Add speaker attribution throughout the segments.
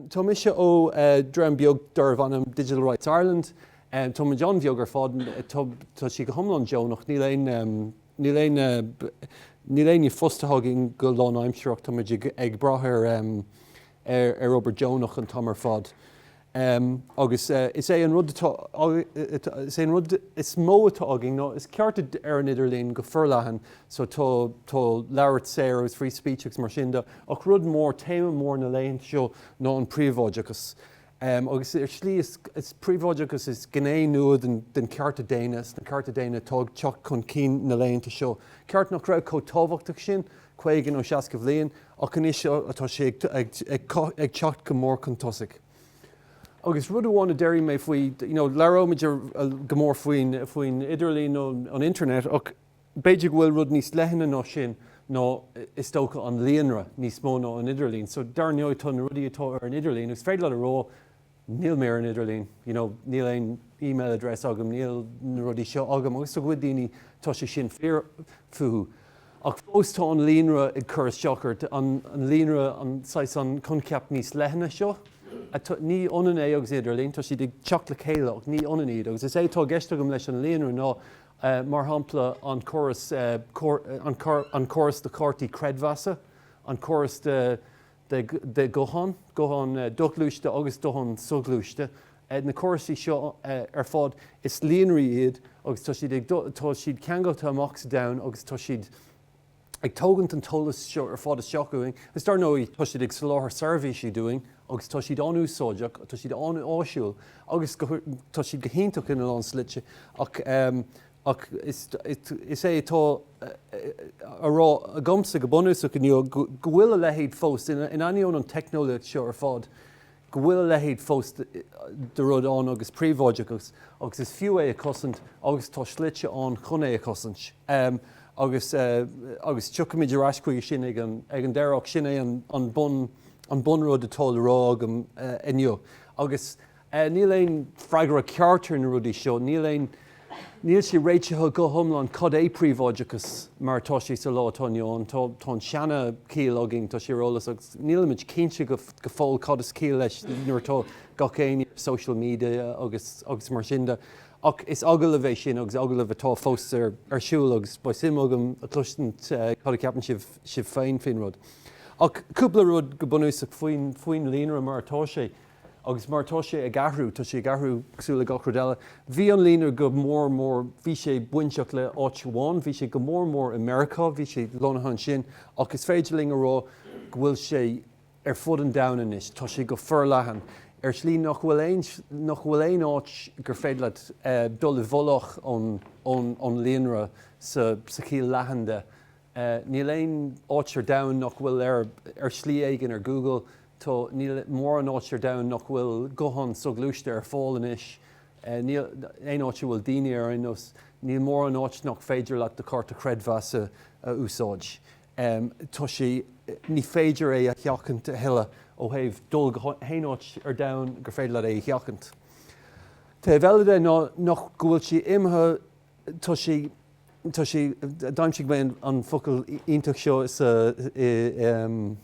Speaker 1: Tá mise ó dhream beag darb ainm Digital Rights Ireland. Tá muid an-bheag ar fad, tá sí go hiomlán deonach, níl aon, níl aon, níl éinne fostaithe againn go lánaimsearach, tá muid ag brath ar, ar obair deonach an t-am ar fad. Um, agus uh, is é an rud atá, uh, is é an rud is mó atá againn ná, is cearta ar an idirlíon go forleathan, so tá, tá labhairt saor agus free speech agus mar sin de, ach rud mór, téama mór na laethanta seo ná an príobháideachas. Um, agus ar slí is, is príobháideachas is gné nua den, den cearta daonna, na cearta daonna atá ag teacht chun cinn na laethanta seo. Ceart nach raibh chomh tábhachtach sin 50 nó 60 bhliain, Ach anois tá sé ag teacht go mór chun tosaigh. Agus rud amháin a déarfaidh mé faoi, you know, labhróimid go mór faoin idirlíon an internet ach b'fhéidir go bhfuil rud níos leithne ná sin ná is dócha an líonra níos mó ná an idirlíon. So dar ndóigh tá na rudaí atá ar an idirlíon, agus is féidir leat a rá, níl mé ar an idirlíon, you know, níl aon email address agam, níl na rudaí seo agam, agus do chuid daoine tá sé sin fíor fúthu, ach fós tá an líonra ag cur isteach ort, an líonra, an saghas, an coincheap níos leithne seo, ní ionann é agus idirlíon, tá siad ag teacht le chéile ach ní ionann iad, agus is é atá i gceist agam leis an líonra ná, mar shampla, an córas, an córas do chártaí creidmheasa, an córas do, de ghuthán, guthán doghluaiste agus guthán soghluaiste. Na córaisí seo ar fad, is líonraí iad agus tá siad ag, tá siad ceangailte amach sa domhan agus tá siad ag tógaint an t-eolas seo ar fad isteach uainn agus dar ndóigh tá siad ag soláthar seirbhísí dúinn agus tá siad an-úsáideach, tá siad an-áisiúil agus tá siad go hiontach ina lán slite ach. Ach is é atá á rá agamsa go bunúsach inniu go bhfuil a leithéid fós, in ainneoin an teicneolaíocht seo ar fad, go bhfuil a leithéid fós de rud ann agus príobháideachas agus is fiú é a chosaint agus tá slite ann chun é a chosaint. Agus tiocfaimid ar ais chuige sin ag an deireadh ach sin é an bunrud atá le rá agam inniu. e. Níl aon freagra ceart ar na rudaí seo. Níl aon Níl sé réitithe go hiomlán cad é príobháideachas mar atá sé sa lá atá inniu ann. Tá Tá an seana chiall againn, tá sé ar eolas agus níl muid cinnte go go fóill cad is ciall leis nuair atá gach éinne ar social media agus agus mar sin de. Ach is agallamh é sin agus agallamh atá fós ar ar siúl agus beidh suim agam a chloistint cad a ceapann sibh sibh féin faoin rud. Ach cúpla rud go bunúsach faoin faoin líonra mar atá sé. Agus mar atá sé ag athrú, tá sé ag athrú cosúil le gach rud eile. Bhí an líonra go mór mór, bhí sé bainteach le áit amháin, bhí sé go mór mór i Meiriceá, bhí sé lonnaithe ansin ach is féidir linn a rá go bhfuil sé ar fud an domhain anois, tá sé go forleathan ar shlí nach bhfuil aon, nach bhfuil aon áit gur féidir leat dul i bhfolach ón, ón, ón líonra sa, sa chiall leathan de. e. Níl aon áit ar domhan nach bhfuil ar, ar shlí éigin, ar Google. Tá, níl mórán áit ar domhan nach bhfuil guthán soghluaiste ar fáil anois. e. Níl aon áit a bhfuil daoine ar aon nós. Níl mórán áit nach féidir leat do chárta chreidmheasa a úsáid. e. Tá sé, ní féidir é a sheachaint a thuilleadh ó thaobh dul go haon áit ar domhan gur féidir leat é a sheachaint. Taobh eile de ná go bhfuil sé imithe. Tá sé, tá sé, d'aimsigh mé an focal iontach seo sa, i, em,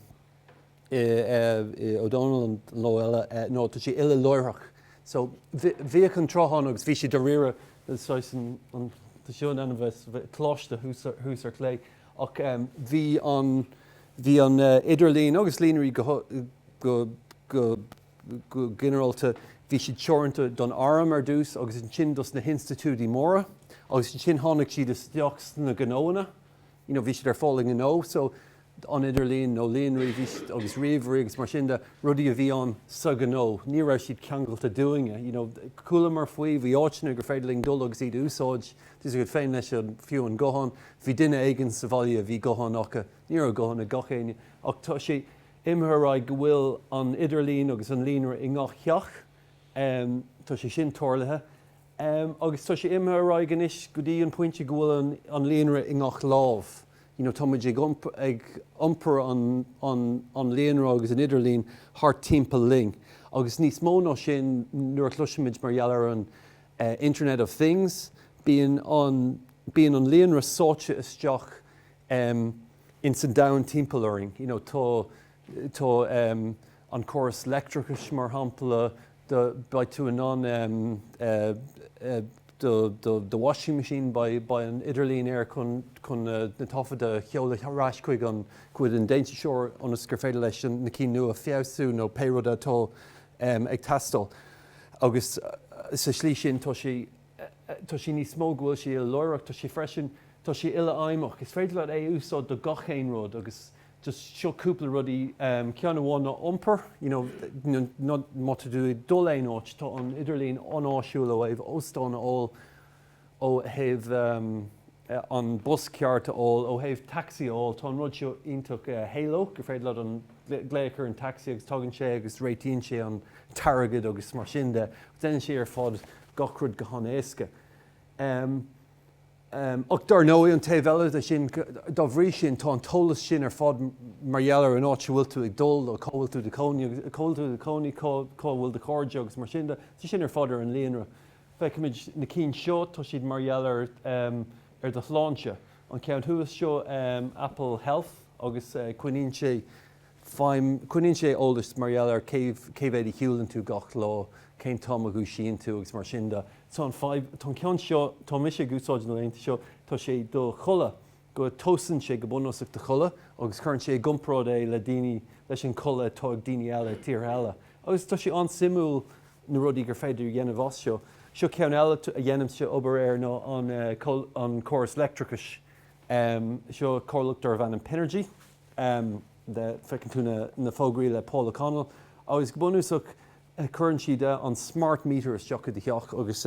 Speaker 1: i, i, Ó Dónaill an lá eile, eh, no, tá sé uileláithreach. So, bhí, bhíodh an tráth ann agus bhí sé dáiríre, saghas an, an, tá seo in ainm bheith, bheith, coláiste thuas, thuas ar chlé, ach em, bhí an, bhí an eh, idirlíon agus líonraí go, go, go, Go ginearálta, bhí siad teoranta don arm ar dtús agus ansin dos na hinstitiúidí móra agus ansin tháinig siad isteach sna gnóanna, you know, bhí siad ar fáil i ngnó, so an idirlíon nó líonraí, bhí siad, agus ríomhairí agus mar sin de, rudaí a bhí ann sa ghnó, ní raibh siad ceangailte dúinne, you know. Chualamar faoi, bhí áiteanna gur féidir linn dul agus iad a úsáid, tá a fhios agat féin leis an, fiú an guthán, bhí duine éigin sa bhaile a bhí guthán acu, ní raibh guthán ag gach éinne ach tá sé, Imithe ar aghaidh go bhfuil an idirlíon agus an líonra i ngach theach, tá sé sin tarlaithe, agus tá sé imithe ar aghaidh anois go dtí an pointe go bhfuil an líonra i ngach lámh, you know tá muid ag iompar an líonra agus an idirlín thart timpeall linn. Agus níos mó ná sin nuair a chloisimid mar gheall ar an Internet of Things, bíonn an líonra sáite isteach, ins an domhan timpeall orainn. You know, tá, tá ehm, an chóras leictreachais mar shampla, do, beidh tú in ann ehm, eh, do, do, do washing machine, beidh, beidh an idirlíon air chun, chun na, na taifid a sheoladh ar ais chuig an, chuig an déantúsóir ionas gur féidir leis an, na cinn nua a fheabhsú nó pé rud atá ehm, ag teastáil. Agus sa slí sin tá sé, tá sé níos mó, go bhfuil sé uileláithreach, tá sé freisin, tá sé uilefheidhmeach. Is féidir leat é a úsáid do gach aon rud agus just seo cúpla rudaí, ceann amháin ná iompar, you know, nó má tá tú ag dul aon áit, tá an idirlíon an-áisiúil ó thaobh óstán a fháil, ó thaobh, an bus ceart a fháil. Ó thaobh taxi a fháil, tá an rud seo iontach áisiúil, gur féidir leat an glaoch ar an taxi agus tagann sé agus réitíonn sé an t-airgead agus mar sin de. Déanann sé ar fad gach rud go han-éasca. Ach dár ndóigh, an taobh eile de sin, dá bhrí sin, tá an t-eolas sin ar fad mar gheall ar an áit a bhfuil tú ag dul nó cá bhfuil tú i do chónaí, cá bhfuil do chairde agus mar sin de, tá sé sin ar fad ar an líonra. Feicimid na cinn seo, tá siad mar gheall ar ar do shláinte. An ceann thuas seo Apple Health agus coinníonn sé feidhm, coinníonn sé eolas mar gheall ar cé cé mhéad a shiúlann tú gach lá, cén t-am a dhúisíonn tú agus mar sin de. Tá an aip, tá an ceann seo, tá mise ag úsáid na laethanta seo, tá sé do chodladh, go dtomhaiseann sé go bunúsach do chodladh agus cuireann sé i gcomparáid é le daoine, leis an chodladh atá ag daoine eile i dtíortha eile. Agus tá sé an-suimiúil na rudaí gur féidir a dhéanamh as seo. Seo ceann eile a dhéanaimse obair air ná an córas leictreachais. Seo comhlacht darbh ainm Pinergy, feiceann tú na fógraí le Paul O'Connell, agus go bunúsach cuireann siad an smart meter isteach i do theach agus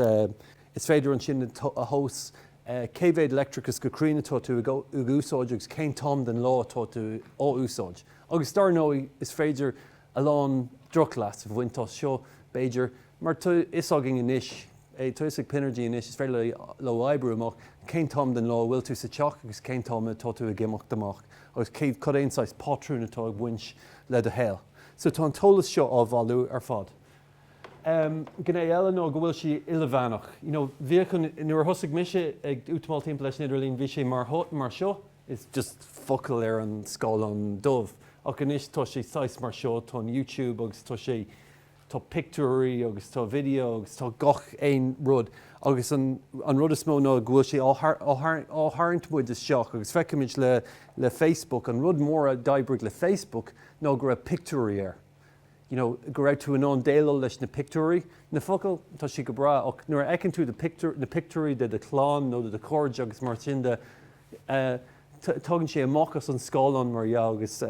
Speaker 1: is féidir ansin a thomhas cé mhéad leictreachais go cruinn atá tú ag úsáid agus cén t-am den lá atá tú á úsáid. Agus dár ndóigh is féidir a lán drochleas a bhaint as seo, b'fhéidir, mar tá fhios againn anois, tá fhios ag Pinergy anois, is féidir leo oibriú amach cén t-am den lá a bhfuil tú sa teach agus cén t-am atá tú ag imeacht amach agus cé, cad é an saghas pátrún atá ag baint le do shaol. So tá an t-eolas seo á bhailiú ar fad. Em, gné eile ná go bhfuil sé ilmheánach. You know, bhíodh an, nuair a thosaigh mise ag útamáil timpeall leis an idirlíon, bhí sé mar, mar seo, is just focail ar an scáileán dubh ach anois tá sé saghas mar seo, tá an youtube agus tá sé, tá pictiúirí agus tá video agus tá gach aon rud agus an an rud is mó ná go bhfuil sé á á tharraingt muid isteach agus feicimid le le facebook an rud mór a d'oibrigh le facebook ná go raibh pictiúirí air you know go raibh tú in ann déileáil leis na pictiúirí, na focail tá siad go breá ach nuair a fheiceann tú do pictiúr na pictiúirí de do chlann nó de do chairde agus mar sin de, Tógann sé amach as an scáileán, mar dhea, agus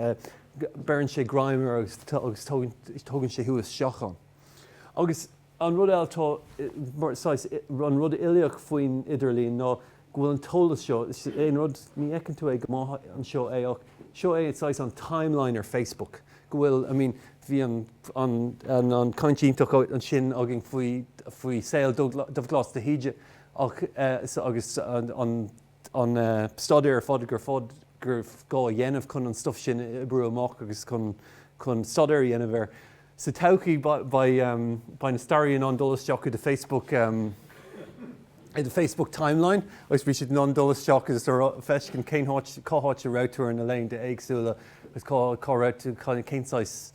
Speaker 1: beireann sé greim ort agus tógann sé thú isteach ann. Agus an rud eile atá mar, saghas, an rud uilíoch faoin idirlíon ná go bhfuil an t-eolas seo, is é an rud, ní fheiceann tú é go maith anseo é ach seo é, saghas, an timeline ar Facebook, go bhfuil, I mean, bhí an, an, an, an caint iontach ansin againn faoi, faoi saol Dubhghlas de hÍde, Agus an staidéar ar fad gur gá a dhéanamh chun an stuif sin a oibriú amach agus chun staidéar a dhéanamh air. Sa todhchaí beidh na staraithe in ann dul isteach i do Facebook i do Facebook timeline agus beidh siad in ann dul isteach agus feiscint cén áit cá háit a raibh tú ar na laethanta éagsúla agus cá raibh tú cén saghas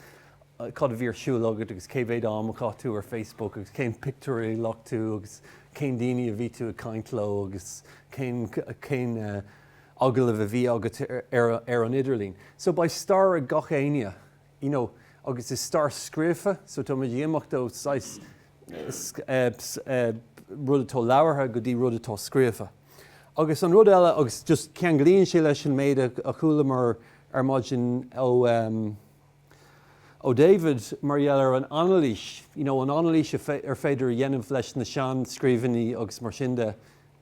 Speaker 1: cad a bhí ar siúl agat agus cé mhéad am a chaith tú ar Facebook agus cén pictiúr a ghlac tú agus cén daoine a bhí tú ag caint leo agus cén cén agallamh a bhí agat ar ar an idirlíon. So beidh stair ag gach éinne you know agus is stair scríofa so tá muid ag imeacht ó shaghas rud atá labhartha go dtí rud atá scríofa. Agus an rud eile agus just ceanglaíonn sé leis an méid a chualamar ar maidin ó ó David mar gheall ar an anailís, you know an anailís ar féidir a dhéanamh leis na seanscríbhinní agus mar sin de,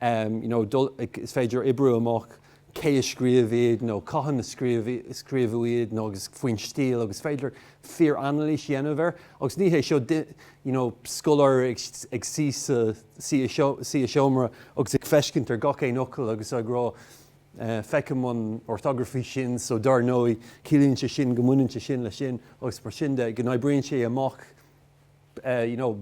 Speaker 1: you know is féidir oibriú amach cé a scríobh iad nó cathain a scríobhadh iad nó agus faoin stíl agus féidir fíor-anailís dhéanamh air agus ní hé seo you know scoláire ag suí i seomra agus ag feiscint ar gach aon fhocal agus ag rá Feicim an orthography sin, so dár ndóigh ciallaíonn sé sin go mbaineann sé sin leis sin agus mar sin de, go n-oibríonn sé amach you know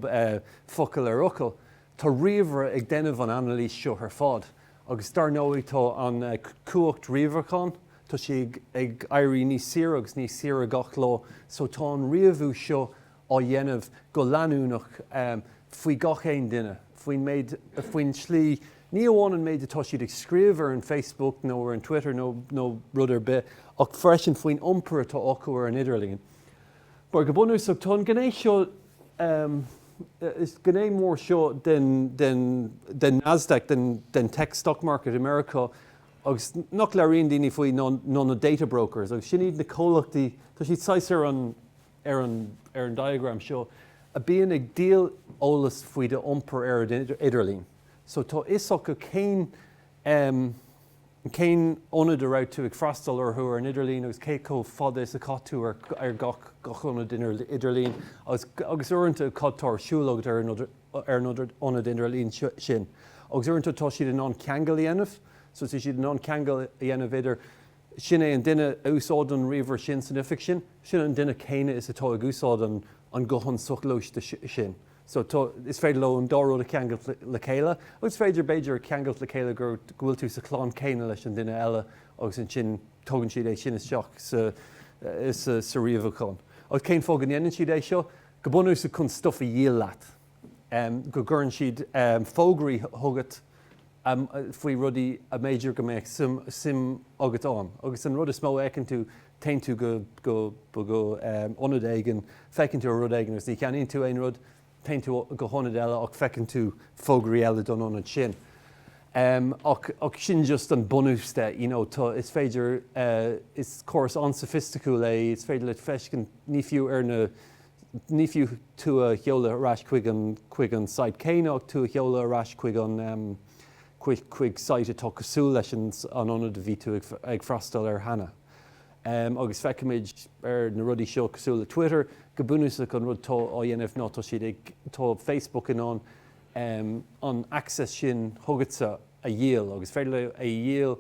Speaker 1: focal ar fhocal. Tá ríomhaire ag déanamh an anailís seo ar fad agus dár ndóigh tá an cumhacht ríomhaireacháin, tá sí ag éirí níos saoire agus níos saoire gach lá, so tá an ríomhú seo á dhéanamh go leanúnach faoi gach aon duine, faoin méid, faoin tslí, ní amháin an méid atá siad ag scríobh ar an Facebook nó ar an Twitter nó nó rud ar bith, ach freisin faoin iompar atá acu ar an idirlíon. Mar go bunúsach, tá an gné seo, is gné mór seo den den den Nasdaq, den den tech stock market America agus nach labhraíonn daoine faoi ná ná na data brokers agus sin iad na comhlachtaí, tá siad saghas ar an, ar an ar an diagram seo, a bhíonn ag díol eolas faoi do iompar ar an idirlíon. So tá a fhios acu cén em cén ionad a raibh tú ag freastal orthu ar an idirlíon agus cé chomh fada is a chaith tú ar ar gach gach ionad idirlíon agus agus uaireanta cad tá ar siúl agat ar an ar an ionad idirlíon sin. Agus uaireanta tá siad in ann ceangal a dhéanamh so tá siad in ann ceangal a dhéanamh idir sin é an duine a úsáideann an ríomhaire sin san oifig sin, sin an duine céanna is atá ag úsáid an guthán soghluaiste sin. So tá, is féidir leo an dá rud a cheangailt le chéile, agus féidir, b'fhéidir, a cheangailt le chéile go bhfuil tú sa chlann céanna leis an duine eile agus ansin tugann siad é sin isteach sa ríomhaichán. Agus cén fáth go ndéanann siad é seo? Go bunúsach chun stuff a dhíol leat, go gcuireann siad fógraí chugat, amh faoi rudaí a mb'fhéidir go mbeadh suim agat ann. Agus an rud is mó a fheiceann tú, téann tú go hionad éigin, féachann tú ar rud éigin agus ní cheannaíonn tú aon rud, téann tú go hionad eile ach feiceann tú fógraí eile don ionad sin. Ach sin just an bunús de, you know, tá, is féidir, is córas an-soifisticiúil é, is féidir le feiscint, ní fiú ar na ní fiú tú a sheoladh ar ais chuig an site céanna ach tú a sheoladh ar ais chuig an, chuig site atá cosúil leis an ionad a bhí tú ag freastal air cheana. Agus feicimid ar na rudaí seo, cosúil le Twitter, go bunúsach an rud atá á dhéanamh ná tá siad ag, tá Facebook in ann an access sin chugatsa a dhíol agus féidir leo é a dhíol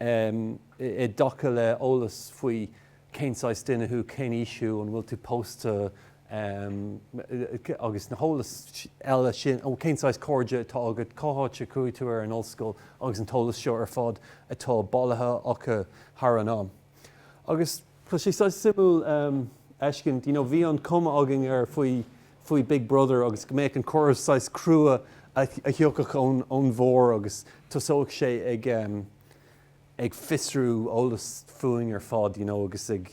Speaker 1: amh i dtaca le eolas faoi cén saghas duine thú, cén aois thú, an bhfuil tú pósta, amh, agus na heolas eile sin, amh, cén saghas cairde atá agat, cén áit a chuaigh tú ar an ollscoil agus an t-eolas seo ar fad atá bailithe acu thar an am. Agus. Tá sé saghas suimiúil fheiscint, you know bhí an cuma againn ar faoi faoi Big Brother agus go mbeadh an córas saghas crua a thiocfadh ón ón bharr agus tosódh sé ag em ag fiosrú eolas fúinn ar fad you know agus ag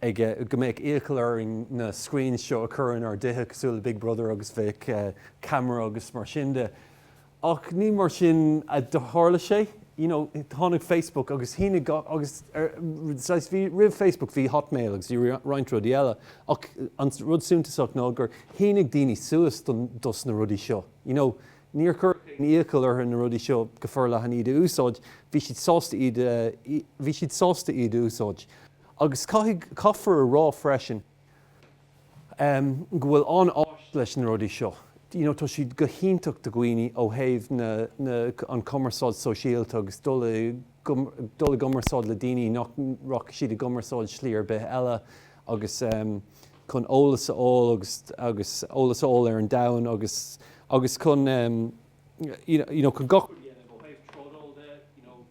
Speaker 1: ag eh go mbeadh iachall orainn na screens seo a chur inár dtithe cosúil le Big Brother agus bheadh eh camera agus mar sin de. Ach ní mar sin a tharla sé, you know, tháinig Facebook agus shínigh gach, agus ar, saghas, bhí, roimh Facebook bhí Hotmail agus bhí roinnt rudaí eile, ach an rud suntasach ná gur shínigh daoine suas don, dos na rudaí seo, you know, níor chuir éinne iachall orthu na rudaí seo go forleathan iad a úsáid, bhí siad sásta iad a, bhí siad sásta iad a úsáid. Agus caithfidh, caithfear a rá freisin, go bhfuil an-áis leis na rudaí seo. You know, tá siad go hiontach do dhaoine ó thaobh na, na, an cumarsáid sóisialta agus dul i, dul i gcumarsáid le daoine nach rachadh siad i gcumarsáid slí ar bith eile agus chun eolas a fháil agus, agus eolas a fháil ar an domhan agus, agus chun you know, chun gach rud a dhéanamh ó thaobh trádáil de, you know.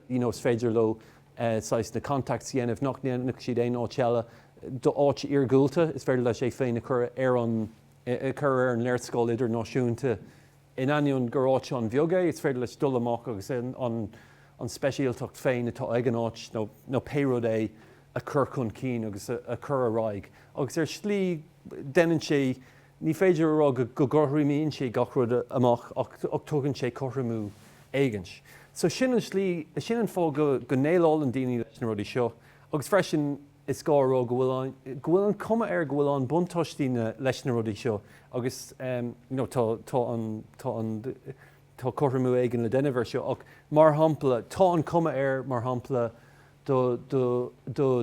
Speaker 1: you know is féidir leo saghas na contacts a dhéanamh nach ndéanfadh siad aon áit eile d'áit iargúlta is féidir leis é féin a chur ar an a chur ar an léarscáil idirnáisiúnta in ainneoin gur áit an-bheag é is féidir leis dul amach agus an an an speisialtacht féin atá ag an áit nó nó pé rud é a chur chun cinn agus a chur ar aghaidh agus ar shlí déanann sé Ní féidir a rá go gcothromaíonn sé gach rud amach ach tugann sé cothromú éigint. So sin an slí, sin an fáth go n-éalaíonn daoine leis na rudaí seo. Agus freisin, is gá a rá go bhfuil an, go bhfuil an cuma air go bhfuil an buntáistí na, leis na rudaí seo agus you know tá, tá an, tá an, tá cothromú éigin le déanamh ar seo ach mar shampla, tá an cuma air mar shampla, do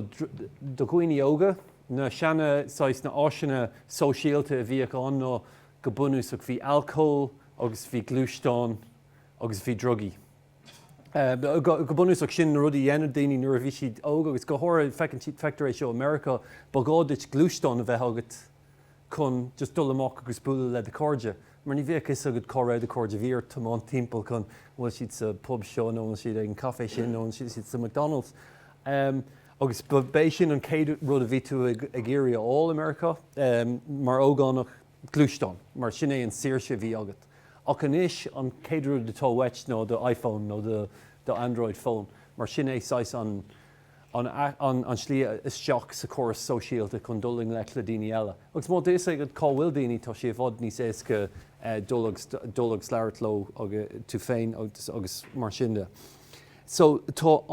Speaker 1: dhaoine óga, na seana saghas na áiseanna sóisialta a bhíodh ann ná go bunúsach bhí alcól agus bhí gluaisteáin agus bhí drugaí. Go bunúsach sin na rudaí a dhéanadh daoine nuair a bhí siad óg agus go háirithe feictear é seo i Meiriceá, ba ghá duit gluaisteán a bheith agat chun just dul amach agus bualadh le do chairde mar ní bheadh fhios agat cá raibh do chairde, bhí ort tiomáint timpeall chun, an bhfuil siad sa bpub seo nó an bhfuil siad ag an caife sin nó an bhfuil siad sa McDonald's agus b'é sin an chéad rud a bhí tú ag iarraidh a fháil i Meiriceá mar ógánach, gluaisteán mar sin é an saoirse a bhí agat ach anois an chéad rud atá uait ná do iPhone nó do Android phone mar sin é saghas an. an slí isteach sa chóras sóisialta chun dul i ngleic le daoine eile. Agus má tá fhios agat cá bhfuil daoine, tá sé i bhfad níos éasca dul agus labhairt leo tú féin agus mar sin de. So, tá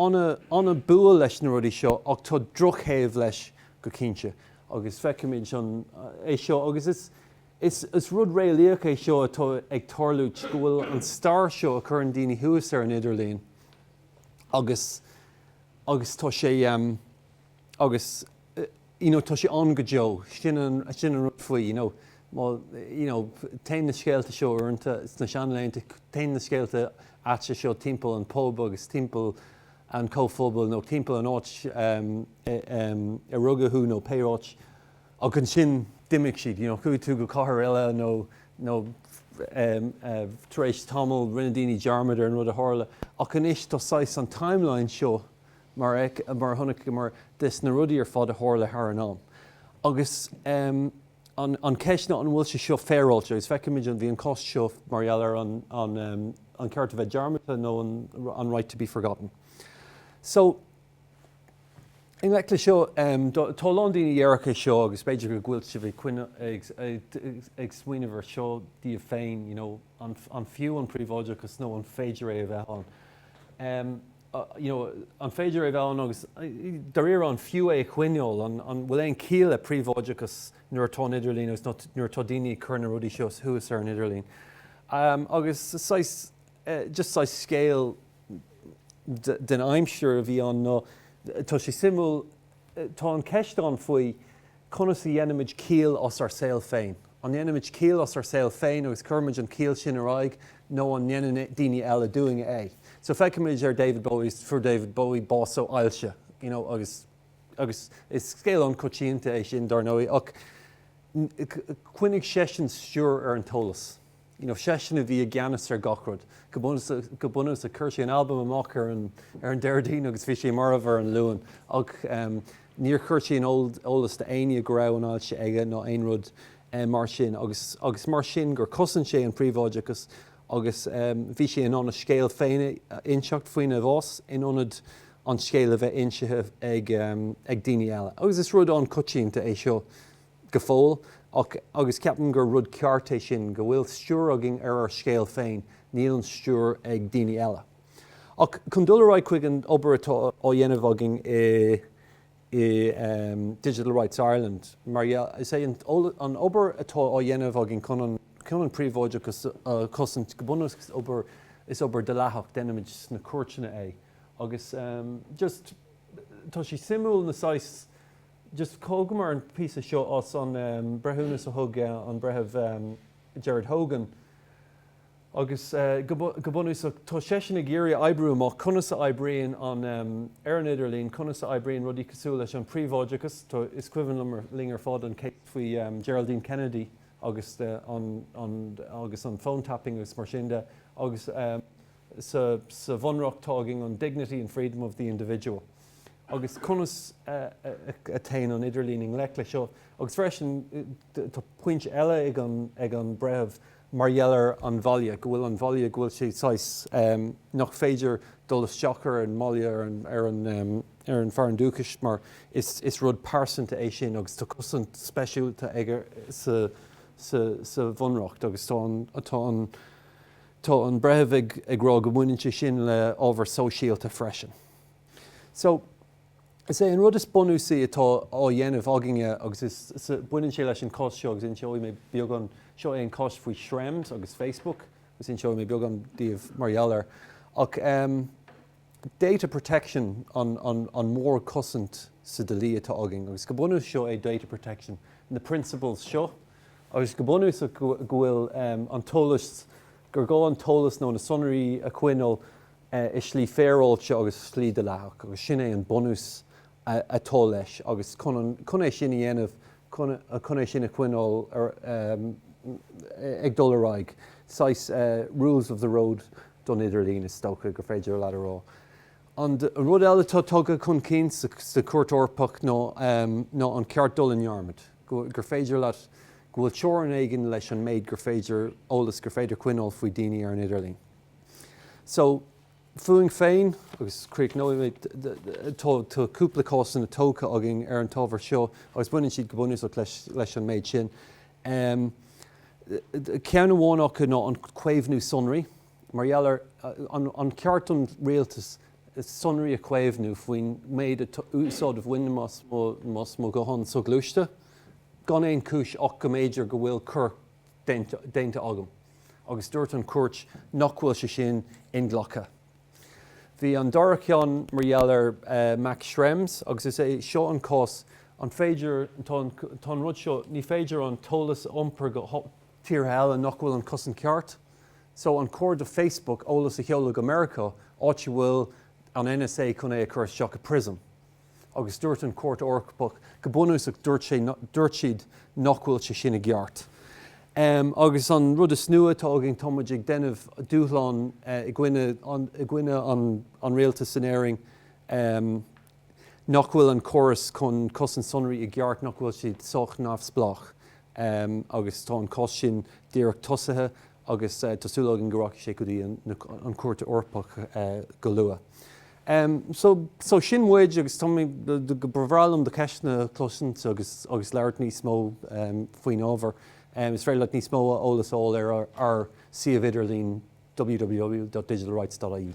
Speaker 1: ana bua leis na rudaí seo ach tá drochthaobh leis go cinnte. Agus feicimid é seo, agus is rud réalaíoch é seo atá ag tarlúint, go bhfuil an stair seo a chuireann daoine thuas ar an idirlíon, agus, agus tá sé, agus you know tá sé ann go deo, sin an, sin an rud faoi, you know má, you know téann na scéalta seo uaireanta, sna seanlaethanta, téann na scéalta aite seo timpeall an phub agus timpeall an chomhphobail nó timpeall an áit a rugadh thú nó pé áit, Ach ansin d'imigh siad. You know, chuaigh tú go cathair eile nó, nó tar éis tamaill rinne daoine dearmad ar an rud a tharla. Ach anois tá saghas an timeline seo mar a chonaiceamar de sna rudaí ar fad a tharla thar an am. Agus an cheist ná an bhfuil sé seo féaráilte? Agus feicimid an bhí an cás seo mar gheall ar an ceart a bheith dearmadta nó an right to be forgotten. So. I ngleic leis seo, tá a lán daoine den dearcadh seo agus b'fhéidir go bhfuil sibh ag smaoineamh air seo daoibh féin, you know, an fiú an príobháideachas nó an féidir é a bheith ann? You know, an féidir é a bheith ann agus, dairíre, an fiú é a choinneáil? An bhfuil aon chiall le príobháideachas nuair atá an idirlíon agus nuair atá daoine ag cur na rudaí seo thuas ar an idirlíon? Agus, saghas, just saghas scéal den aimsir a bhí ann nó tá sé suimiúil, tá an ceist ann faoi conas a dhéanaimid ciall as ár saol féin. An ndéanaimid ciall as ár saol féin agus cuirimid an chiall sin ar aghaidh nó an ndéanann daoine eile dúinn é? So féachaimid ar David Bowie, fuair David Bowie bás ó ailse you know agus agus is scéal an-choitianta é sin dár ndóigh ach choinnigh seisean stiúir ar an t-eolas. you know, seisean a bhí i gceannas ar gach rud go bunúsach. Chuir sé an albam amach ar an Déardaoin agus bhí sé marbh ar an Luan ach níor chuir sé aon eolas do éinne go raibh an ailse aige ná aon rud mar sin agus agus mar sin gur chosain sé an príobháideachas agus bhí sé in ann a scéal féin a inseacht faoina bhás in ionad an scéal a bheith insithe ag daoine eile agus is rud an-choitianta é seo go fóill ach, agus ceapaim gur rud ceart é sin, go bhfuil stiúir againn ar ár scéal féin, níl an stiúir ag daoine eile. Ach chun dul ar aghaidh chuig an obair atá á dhéanamh againn i i Digital Rights Ireland, mar dhea, is é an obair atá á dhéanamh againn chun an chun an príobháideachas a chosaint, go bunúsach is obair dhleathach, déanaimid sna cúirteanna é agus just tá sé suimiúil na saghas, just thógamar an píosa seo as an breithiúnas a thug an Breitheamh Gerard Hogan agus go bunúsach tá seisean ag iarraidh oibriú amach conas a oibríonn an ar an idirlíon, conas a oibríonn rudaí cosúil leis an príobháideachas, is cuimhin liom linn ar fad an cás faoi Geraldine Kennedy agus an an agus an phone tapping agus mar sin de agus sa sa bhunreacht tá againn an dignity and freedom of the individual. agus conas a théann an idirlíon i ngleic leis seo. Agus freisin, tá pointe eile ag an breitheamh mar gheall ar an bhaile, go bhfuil an bhaile, go bhfuil sé saghas, nach féidir dul isteach ar an mbaile, ar an fearann dúchais, mar is rud pearsanta é sin agus tá cosaint speisialta aige sa bhunreacht. Agus tá an breitheamh ag rá go mbaineann sé sin le ábhar sóisialta freisin. So, is é an rud is bunúsaí atá á dhéanamh againne, agus is, baineann sé leis an cás seo, agus inseoidh mé beagán, seo é an cás faoi Schrems agus Facebook, agus inseoidh mé beagán daoibh mar gheall air. Ach data protection an, an, an mórchosaint sa dlí atá againn, agus go bunúsach seo é data protection, na principles seo, agus go bunúsach go, go bhfuil an t-eolas, gur gá an t-eolas nó na sonraí a choinneáil i slí féaráilte agus i slí dleathach agus sin é an bunús atá leis agus chun é sin a dhéanamh, chun é sin a choinneáil ag dul ar aghaidh, saghas rules of the road don idirlíon is dócha gur féidir leat a rá. An rud eile atá tugtha chun cinn sa Chúirt Eorpach ná an ceart dul i ndearmad, gur féidir leat, go bhfuil teorainn éigin leis an méid gur féidir, eolas gur féidir coinneáil faoi daoine ar an idirlíon. So, fúinn féin, agus críochnóidh mé, tá cúpla cásanna tógtha againn ar an t-ábhar seo agus baineann siad go bunúsach leis an méid sin. Ceann amháin acu ná an caomhnú sonraí, mar gheall ar an ceart don rialtas sonraí a chaomhnú faoin méid úsáid a bhainim as mo ghuthán soghluaiste, gan aon chúis ach go mb'fhéidir go bhfuil coir déanta agam agus dúirt an chúirt nach bhfuil sé sin inghlactha. Bhí an dara ceann mar gheall ar Max Schrems agus is é seo an cás, an féidir, tá an rud seo, ní féidir an t-eolas a iompar go tíortha eile nach bhfuil an cosaint ceart. So an cóir do Facebook eolas a sheoladh go Meiriceá, áit a bhfuil an NSA chun é a chur isteach i Prism? agus dúirt an Chúirt Eorpach go bunúsach, dúirt sé, dúirt siad nach bhfuil sé sin i gceart. Agus an rud is nua atá againn, tá muid ag déanamh dúshlán i gcoinne i gcoinne an rialtas in Éirinn nach bhfuil an córas chun cosaint sonraí i gceart, nach bhfuil siad sách neamhspleách. Agus tá an cás sin díreach tosaithe agus tá súil againn go rachaidh sé go dtí an Chúirt Eorpach go luath. Em so, so sin muid agus tá mé, ba bhreá liom do cheisteanna a chloisint agus, agus labhairt níos mó em faoin ábhar. Em is féidir leat níos mó eolas a fháil ar ár suíomh idirlín www.digitalrights.ie.